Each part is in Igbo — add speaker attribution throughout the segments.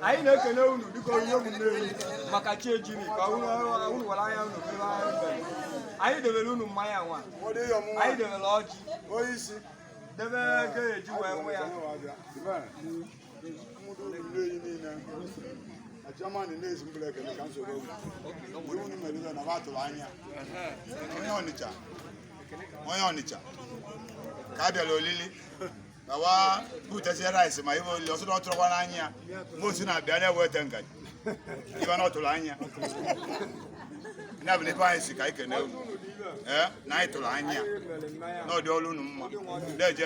Speaker 1: anyị na-ekele unu dịka onye ụmụnne maka chi ejiri ka unu were anya unu anyị debere unu mmanya nwa anyị debere ọjị debe ego eji wee waa ya Germany na-ezi mbụla ekele ka nsogbu oge ndị unu mere ibe na ba atụrụ anya onye Ọnịcha onye Ọnịcha ka a bịara olili na wa butezie rice ma ife olili ọzọ na ọ tụrụkwa n'anya ya mgbe o si na-abịa na-eweta ngaji ibe na ọ tụrụ anya ya bụ ife anyị si ka anyị kene unu ee na anyị tụrụ anya na ọdị ọrụ unu mma na-eje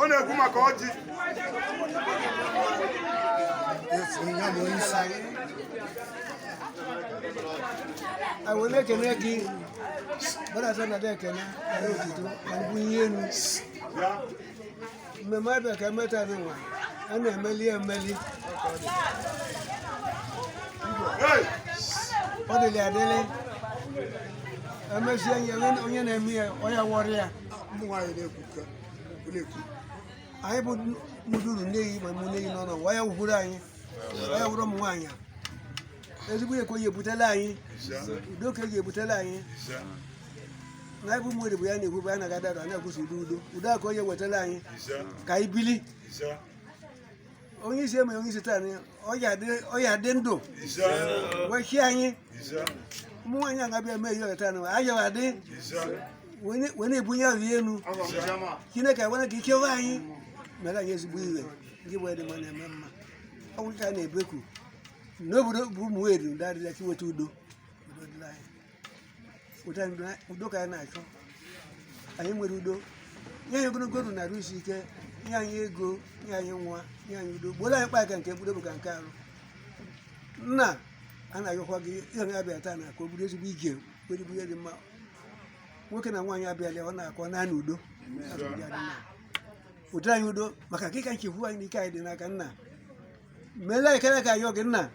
Speaker 1: ọ na-ekwu maka ọjị wee na-ekene gị gbadata nata ekene na otito na mbunye enu mmemme ebe ka eme taa nwa a na-emeli emeli ọ dịlị adịlị emezie onye na-eme ya onye wọrọ ya anyị bụ mụduru nne anyị ma ụmụnne anyị n'ọnụ waya wugoro anyị waya wụrụ ụmụ nwaanyị ezigbo ihe ka ọ ya-ebutela anyị udo ka ọ ya-ebutela anyị na anyị bụ ụmụ eri bụ ya na-ekwu bụ ya na-aga dara na-ekwusi udo udo udo ka ọ ya-ewetara anyị ka anyị bili onye isi eme onye isi taa ọ ya dị ndụ wee chịa anyị ụmụ nwaanyị a ga-abịa eme ihe taa nwa anyị wa dị wee na-ebunye aha ya enu chineke agwana ka ikewe anyị meere anyị ezigbo ihe ndị bụ edịma na-eme mma ọ bụrụ ka a na-ebeku n'obodo bụ ụmụ eri ndị adịla ka iweta udo udo dịla anyị ụta ndụ a- udo ka anyị na-achọ anyị nwere udo nye anyị ogologo ndụ na arụ isi ike nye anyị ego nye anyị nwa nye anyị udo gboro anyị mkpa ka nke mkpụrụ obi ka nke arụ nna a na-ayọkwa gị ihe na abịa taa na ka ọ bụrụ ezigbo ije were bụ ihe dị mma nwoke na nwaanyị abịala a na-achọ naanị udo Asọmpi adị mma. ụdị anyị udo maka na gị ka nchekwube anyị na ike anyị dị n'aka nna meela ekele ka ayọ gị nna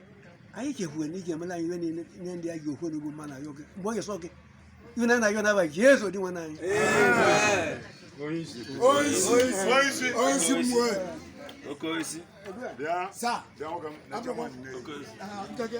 Speaker 1: anyị chekwuwe na ị ya-emela anyị ihe niile nye ndị a ji okwu n'ugbu mma na ayọ gị mgbe onye sọ gị wee na-ayọ n'afa jesu dinwenụ anyị Okoisi. Bịa. Sa. Bịa nwoke m. Abịakwa. Okoisi. Ah, nkenke.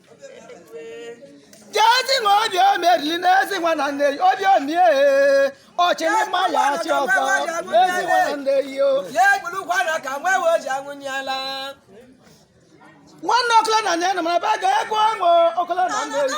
Speaker 1: jezi nwa obi omerili na ezi nwa na nne obi omie ọchịrị mma ya achị ọzọ ezi nwa na nne yo ya egburu ụkwara ka nwa ewe ji anwụnyela nwanne ọkụla na nne na mara ba ga egwu ọṅụ ọkụla na nne yo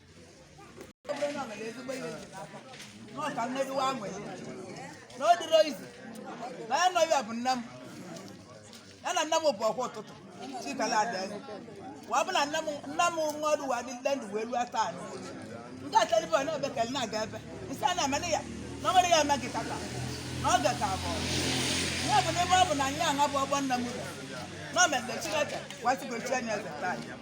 Speaker 1: na nna m bụ ọkwa ụtụtụ chikala adaeze wa bụ na nna m nna m nwa ọrụ wa dị ndị ndụ wee ruo taa anyị ndị atalibe ọ na-ebe ka na-aga ebe nsị a na-amana ya na ọ nwere ya amaghị tata na ọ ga ka abụọ ya bụ n'ebe ọ bụ na anyị aṅa bụ ọgbọ nna m ụlọ na o mere chineke wasịgochi anya eze taa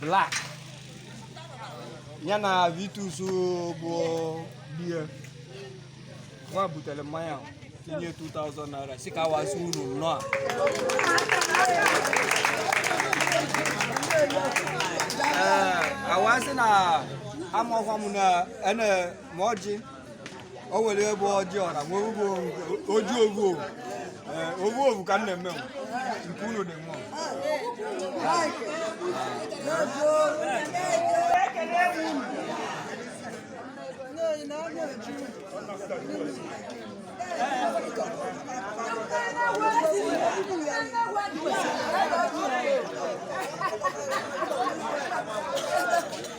Speaker 1: black ya na vitus bụ bie nwa butere mmanya tinye 2000 naira sị ka wa sị unu nnọọ ee awasị na amụkwa m na ene ma ọjị o nwere ebe ọjị ọra nwee ugbo ọjị ovu ovu ee ovu ovu ka m na-eme nwa. nke unu dị nwa Thank you.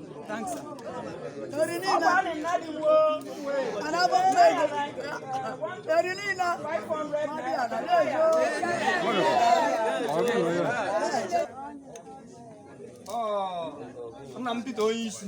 Speaker 1: nna m Peter onye isi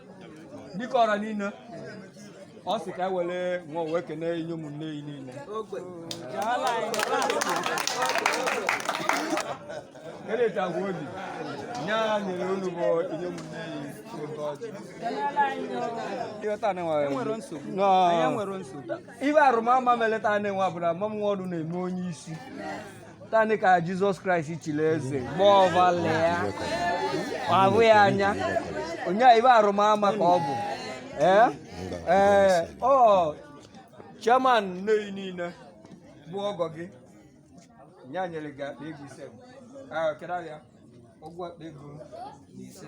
Speaker 1: dịka ọra niile ọ sị ka e were nwa wee kene inye ụmụnne ya niile eletagwa obi nye a nyere unu bụ inye ụmụnne ya oge ọjị ịghọta na enwe nwere nsogbu Nọ. anyị nwere nsogbu ibe arụmama meleta na-enwe abụrụ amam nwa ọdụ na-eme onye isi taa nị ka Jesus Christ chiri eze mgbe ọbụla ya ahụ ya anya onye ibe arụmama ka ọ bụ ee ee ọ chairman na anyị niile bụ ọgọ gị onye e nyere gị akpa ego ise kedu ya ụgwọ akpa ego ise